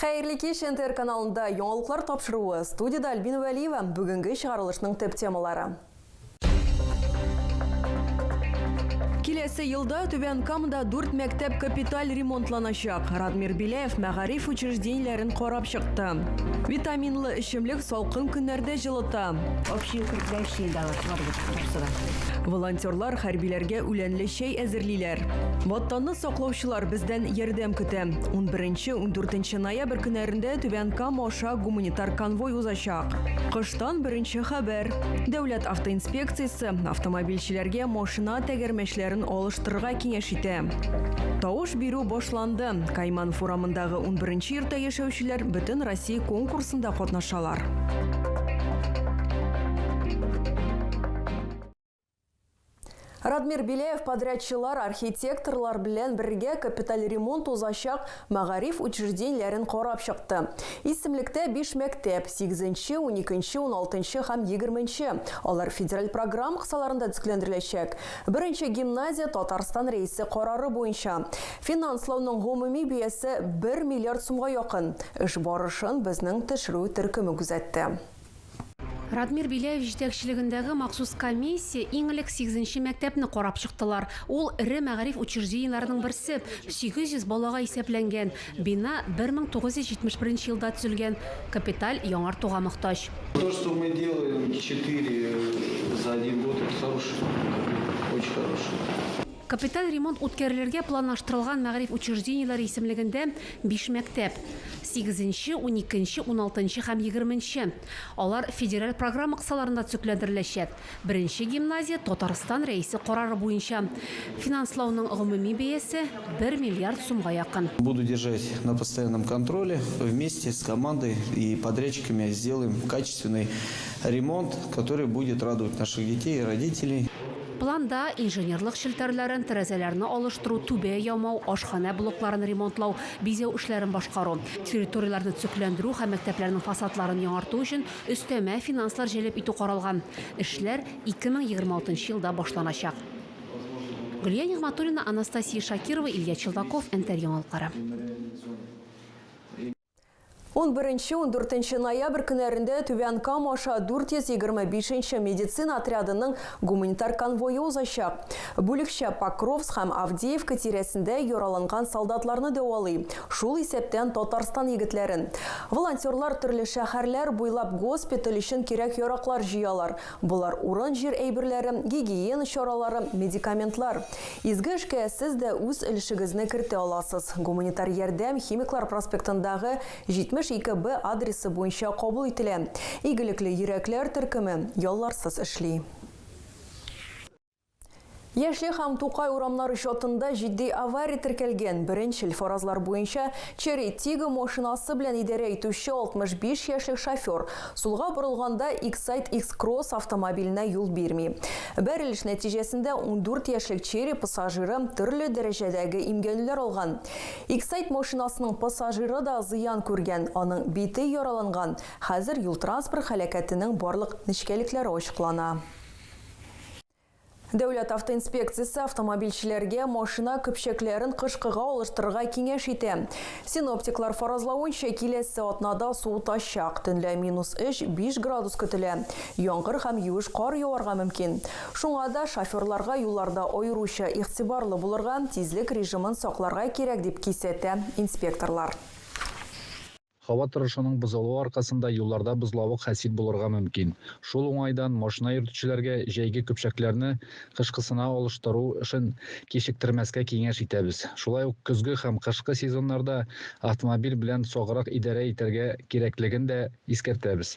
Хәерле кич, НТР каналында яңалыклар тапшыруы, студида Альбина Вәлиева, бүгенге чыгарылышның төп темалары. Киләсе елда Түбән Камада дүрт мәктәп капиталь ремонтланачак. Радмир Беляев мәгариф учреждениеләрен карап чыкты. Витаминлы эчемлек салкын көннәрдә җылыта. Общие укрепляющие едалар бар бит, барысы да. Волонтерлар хәрбиләргә үләнле чәй әзерлиләр. Ватанны Саклаучылар бездән ярдәм көтә. 11-14 ноябрь көннәрендә Түбән Кама аша гуманитар конвой узачак. Кыштан беренче хәбәр. Дәүләт автоинспекциясе автомобильчеләргә машина тәгәрмәчләрен алыштырырга киңәш итә. Тавыш бирү башланды. Кайман форамындагы 11 йортта яшәүчеләр бөтен Россия конкурсында катнашалар. Радмир Беляев подрядчылар, архитекторлар белән бергә капиталь ремонт узачак мәгариф учреждениеләрен карап чыкты. Исемлектә биш мәктәп, сигезенче, уникенче, уналтынчы һәм егерменче. Алар федераль программа кысаларында төзекләндереләчәк. Беренче гимназия Татарстан Рәисе карары буенча. Финанслауның гомуми бәясе бер миллиард сумга якын. Эш барышын безнең төшерү төркеме күзәтте. Радмир Беляев җитәкчелегендәге махсус комиссия иң элек сигезенче мәктәпне карап чыктылар. Ул, эре мәгариф учреждениеләренең берсе, 800 балага исәпләнгән. Бина 1971 елда төзелгән, капиталь яңартуга мохтаҗ. То, что мы делаем четыре за один год, это хороший, очень хороший. Капиталь ремонт үткәрелергә планлаштырылган мәгариф учреждениеләре исемлегендә биш мәктәп, сигезенче, уникенче, уналтынчы һәм егерменче, алар федераль программа кысаларында төзекләндереләчәк, беренче гимназия Татарстан Рәисе карары буенча, финанслауның гомуми бәясе, бер миллиард сумга якын. Буду держать на постоянном контроле, вместе с командой и подрядчиками сделаем качественный ремонт, который будет радовать наших детей и родителей. Планда, инженерлык челтәрләрен, тәрәзәләрне алыштыру, түбә ямау, ашханә блокларын ремонтлау, бизәү эшләрен башкару, территорияләрне төзекләндерү һәм мәктәпләрнең фасадларын яңарту өчен өстәмә финанслар җәлеп итү каралган. Эшләр 2026 елда башланачак. Гөлия Нигъмәтуллина, Анастасия Шакирова, Илья Челдаков, Энтер яңалыклары. 11-14 ноябрь көннәрендә Түбән Кама аша 425 нче медицина отрядының гуманитар конвое узачак. Бүлекчә Покровск һәм Авдеевка тирәсендә яраланган солдатларны дәвалый, шул исәптән Татарстан егетләрен. Волонтерлар төрле шәһәрләр буйлап госпиталь өчен кирәк-яраклар җыялар. Болар урын-җир әйберләре, гигиена чаралары, медикаментлар. Изге эшкә сез дә үз өлешегезне кертә аласыз. Гуманитар ярдәм Химиклар проспектындагы 72 Б адресы буенча кабул ителә. Игелекле йөрәкләр төркеме ялларсыз эшли. Яшел һәм Тукай урамнары чатында җитди авария теркәлгән. Беренчел фаразлар буенча, Черри Тиго машинасы белән идарә итүче 65 яшьлек шофер, сулга борылганда, Иксайд Икс-Кросс автомобиленә юл бирми. Бәрелеш нәтиҗәсендә 14 яшьлек Черри пассажиры төрле дәрәҗәдәге имгәнүләр алган. Иксайд машинасының пассажиры да зыян күргән, аның бите яраланган. Хәзер юл-транспорт һәлакәтенең барлык нечкәлекләре ачыклана. Дәүләт автоинспекциясе автомобильчеләргә машина көпчәкләрен кышкыга алыштырырга киңәш итә. Синоптиклар фаразлавынча, киләсе атнада суытачак. Төнлә минус 3-5 градус көтелә. Яңгыр һәм юеш кар яварга мөмкин. Шуңа да шоферларга юлларда аеруча игътибарлы булырга, тизлек режимын сакларга кирәк, дип кисәтә инспекторлар. Һава торышының бозылуы аркасында юлларда бозлавык хасил булырга мөмкин. Шул уңайдан машина йөртүчеләргә җәйге көпчәкләрне кышкысына алыштыру эшен кичектермәскә киңәш итәбез. Шулай ук көзге һәм кышкы сезоннарда автомобиль белән саграк идарә итәргә кирәклеген дә искәртәбез.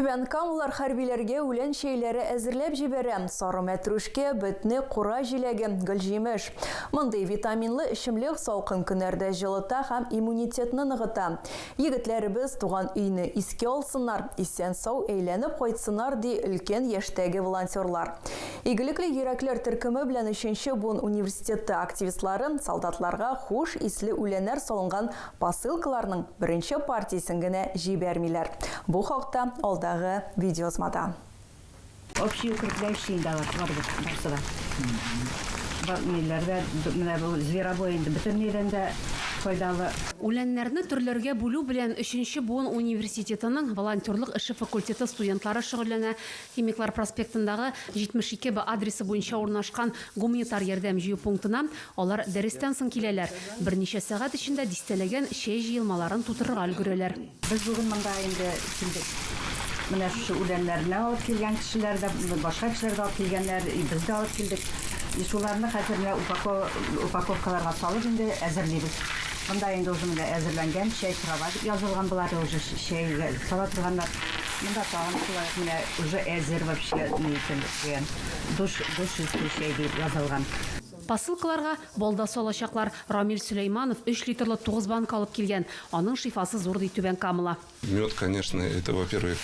Түбән Камалар хәрбиләргә үлән чәйләре әзерләп җибәрә, сары мәтрүшкә, бетне, кура җиләге, гөлҗимеш. Мондый витаминлы эчемлек салкын көннәрдә җылыта һәм иммунитетны ныгыта. Егетләребез туган өйне искә алсыннар, исән-сау әйләнеп кайтсыннар, ди өлкән яшьтәге волонтерлар. Игелекле йөрәкләр төркеме белән өченче буын университеты активистлары солдатларга хуш исле үләннәр салынган Посылкаларның беренче партиясен генә җибәрмиләр. Бу хакта алдагы видеоязмада. Общий укреплающий инде алар барыбер барсы да. Бар ниләр дә менә бу зверобой инде бөтенләйдән дә файдалы. Үләннәрне төрләргә бүлү белән өченче буын университетының волонтерлык эше факультеты студентлары шөгыльләнә, Химиклар проспектындагы 72 Б адресы буенча урнашкан гуманитар ярдәм җыю пунктына алар дәрестән соң киләләр, берничә сәгать эчендә дистәләгән чәй җыелмаларын тутырырга өлгерәләр. Без бүген монда инде килдек. Менә шушы үләннәрне алып килгән кешеләр дә, башка кешеләр дә алып килгәннәр, и без дә алып килдек. И шуларны хәзер менә упаковка упаковкаларга салып инде әзерлибез. Монда инде уже менә әзерләнгән чәй, кровать язылган, болары уже чәйгә сала торганнар. Монда тагын шулай менә уже әзер вообще ни өчен дигән душ душ өсте чәй дип язылган. Посылкаларга балда салачаклар. Рамил Сөләйманов өч литрлы тугыз банка алып килгән. Аның шифасы зур ди Түбән Камала. Мед, конечно, это во первых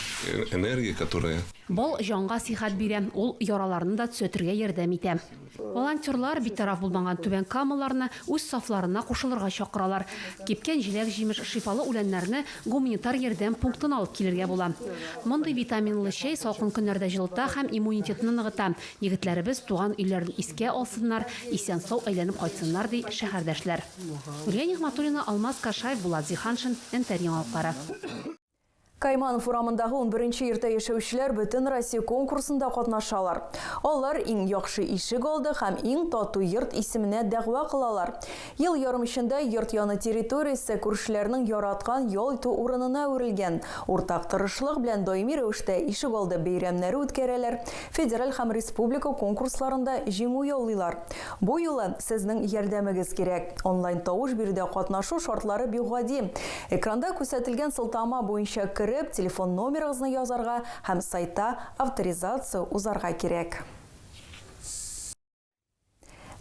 энергия, которая. Бал җанга сихәт бирә, ул яраларны да төзәтергә ярдәм итә. Волонтерлар битараф булмаган Түбән Камаларны үз сафларына кушылырга чакыралар. Кипкән җиләк-җимеш, шифалы үләннәрне гуманитар ярдәм пунктына алып килергә була. Мондый витаминлы чәй салкын көннәрдә җылыта һәм иммунитетны ныгыта. Егетләребез туган өйләрен искә алсыннар, исән-сау әйләнеп кайтсыннар, ди шәһәрдәшләр. Гөлия Нигъмәтуллина, Алмаз Кашаев, Булат Зиһаншин, Нтр яңалыклары. Кайманов урамындагы унберенче йортта яшәүчеләр Бөтенроссия конкурсында катнашалар. Алар Иң яхшы ишек алды һәм Иң тату йорт исеменә дәгъва кылалар. Ел ярым эчендә йорт яны территориясе күршеләрнең яраткан ял итү урынына әверелгән. Уртак тырышлык белән даими рәвештә ишегалды бәйрәмнәре үткәрәләр, федераль һәм республика конкурсларында җиңү яулыйлар. Бу юлы сезнең ярдәмегез кирәк. Онлайн-тавыш биредә катнашу шартлары бик гади. Экранда күрсәтелгән сылтама буенча кереп, телефон номерыгызны язарга һәм сайтта авторизация узарга кирәк.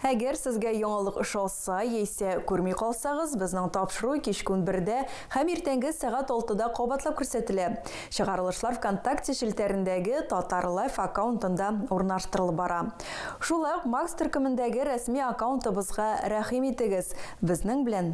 Әгәр сезгә яңалык ошаса яисә күрми калсагыз, безнең тапшыру кичке унбердә һәм иртәнге сәгать алтыда кабатлап күрсәтелә. Чыгарылышлар ВКонтакте челтәрендәге Татар Лайф аккаунтында урнаштырылып бара. Шулай ук Макс төркемендәге рәсми аккаунтыбызга рәхим итегез, безнең белән